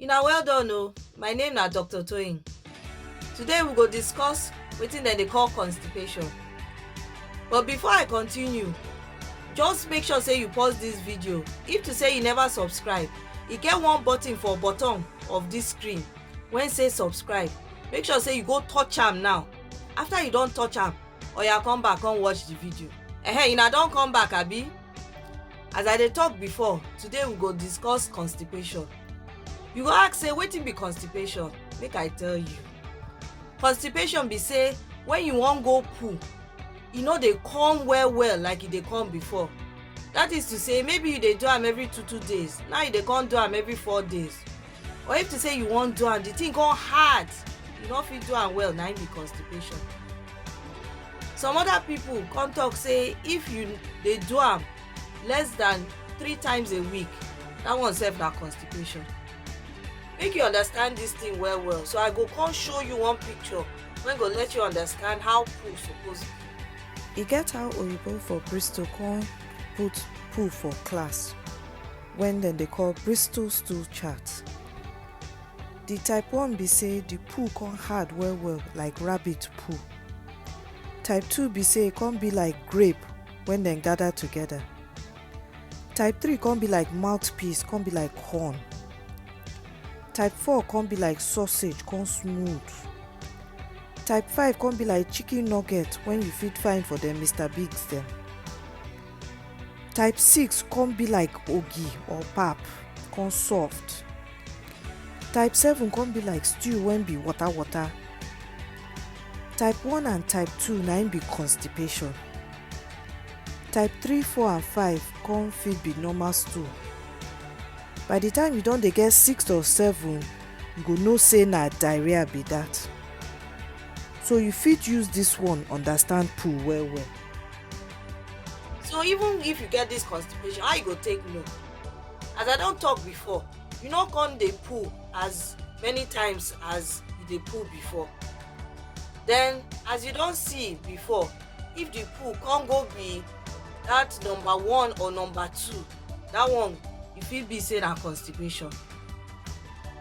Una well done o, my name na Doctor Toyin. Today we go discuss wetin dem dey call constipation. But before I continue, just make sure say you pause this video if to say you never subscribe e get one button for bottom of this screen wey say subscribe make sure say you go touch am now after you don touch am oya come back come watch the video ehem una don come back abi as i dey talk before today we go discuss constipation you go ask say wetin be constipation make i tell you constipation be say when you wan go poo e no dey come well well like e dey come before that is to say maybe you dey do am every two two days now you dey come do am every four days or if to say you wan do am the thing come hard you no fit do am well na im be constipation some other people come talk say if you dey do am less than three times a week that one sef na constipation make you understand this thing well well so i go come show you one picture wey go let you understand how poo suppose be e get how oyibo for bristol come put poo for class wen dem dey call Bristol Stool Chart. Di type one be say di poo come hard well well like rabbit poo. Type two be say e come be like grape wen dem gather together. Type three come be like mouthpiece come be like horn. Type four come be like sausage come smooth. Type five come be like chicken nugget wen you fit find for dem Mister Biggs dem. type six come be like ogi or pap come soft type seven come be like stew wey be water water type one and type two na im be constipation type three four and five come fit be normal stool by the time you don dey get six or seven you go know say na diarrhea be that so you fit use this one understand poo well well so even if you get this constipation how you go take know as i don talk before you no come dey pull as many times as you dey pull before then as you don see before if the pull come go be that number one or number two that one e fit be say na constipation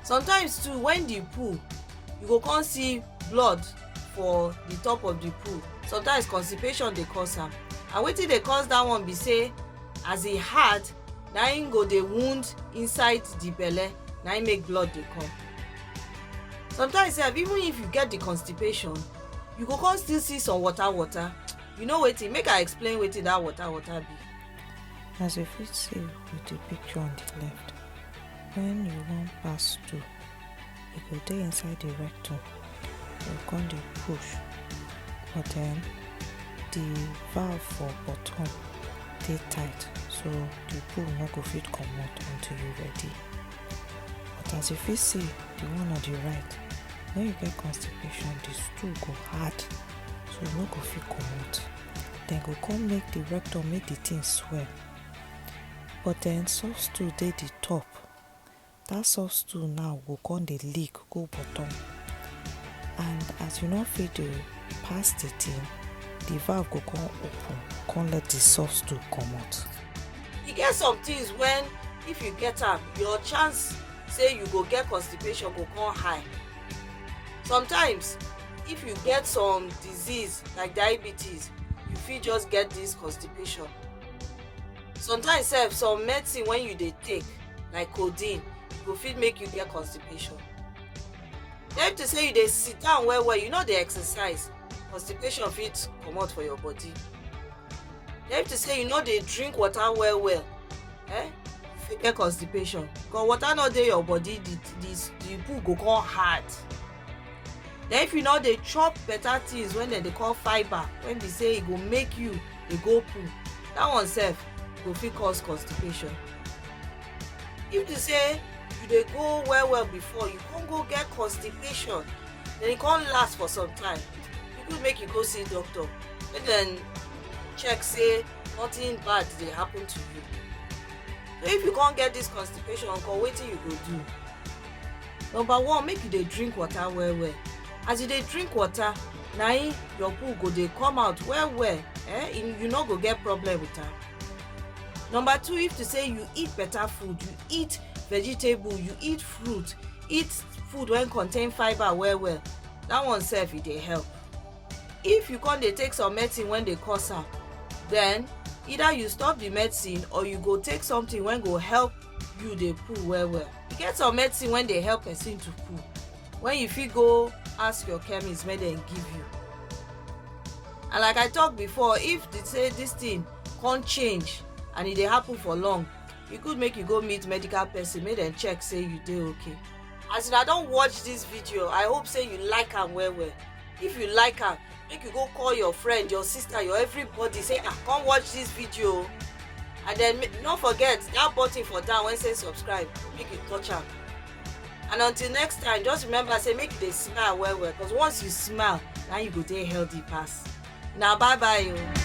sometimes too when the pull you go come see blood for the top of the poo sometimes constipation dey cause am and wetin dey cause that one be say as e hard na im go dey wound inside the belle na im make blood dey come sometimes sef even if you get the constipation you go come still see some water water you know wetin make i explain wetin that water water be. as you fit see with the picture on the left when you wan pass through e go dey inside the rectum e go come dey push but then the valve for bottom dey tight so the poo no go fit comot until you ready but as you fit see the one on the right when you get constipation the stool go hard so e no go fit comot dem go come make the rectum make the thing swell but then soft stool dey the top that soft stool now go come dey leak go bottom and as you no fit dey pass the thing the valve go come open come let the soft stool comot. e get some things when if you get am your chance say you go get constipation go come high sometimes if you get some disease like diabetes you fit just get this constipation sometimes sef some medicine when you dey take like codeine e go fit make you get constipation then to say you dey sit down well well you no dey exercise constipation fit comot for your body then to say you no dey drink water well well eh you fit get constipation because water no dey your body the the the poo go come hard then if you no dey chop better things wey dem dey call fibre wey be say e go make you dey go poo that one sef go fit cause constipation if you say you dey go well well before you come go get constipation then e come last for some time e good make you go see doctor make dem check say nothing bad dey happen to you so if you come get this constipation nko wetin you go do number one make you dey drink water well well as you dey drink water na im your poo go dey come out well well eh you no go get problem with am number two if to say you eat better food you eat vegetable you eat fruit eat food wey contain fibre well well that one sef e dey help if you come dey take some medicine wey dey cause am then either you stop the medicine or you go take something wey go help you dey poo well well e get some medicine wey dey help person to poo when you fit go ask your chemist make dem give you and like i talk before if they say this thing come change and e dey happen for long e good make you go meet medical person make dem check say you dey okay as una don watch this video i hope say you like am well well if you like am make you go call your friend your sister your everybody say ah come watch this video and then no forget that button for down wey say subscribe make you touch am and until next time just remember say make you dey smile well well because once you smile na you go dey healthy pass. na bye bye o. Oh.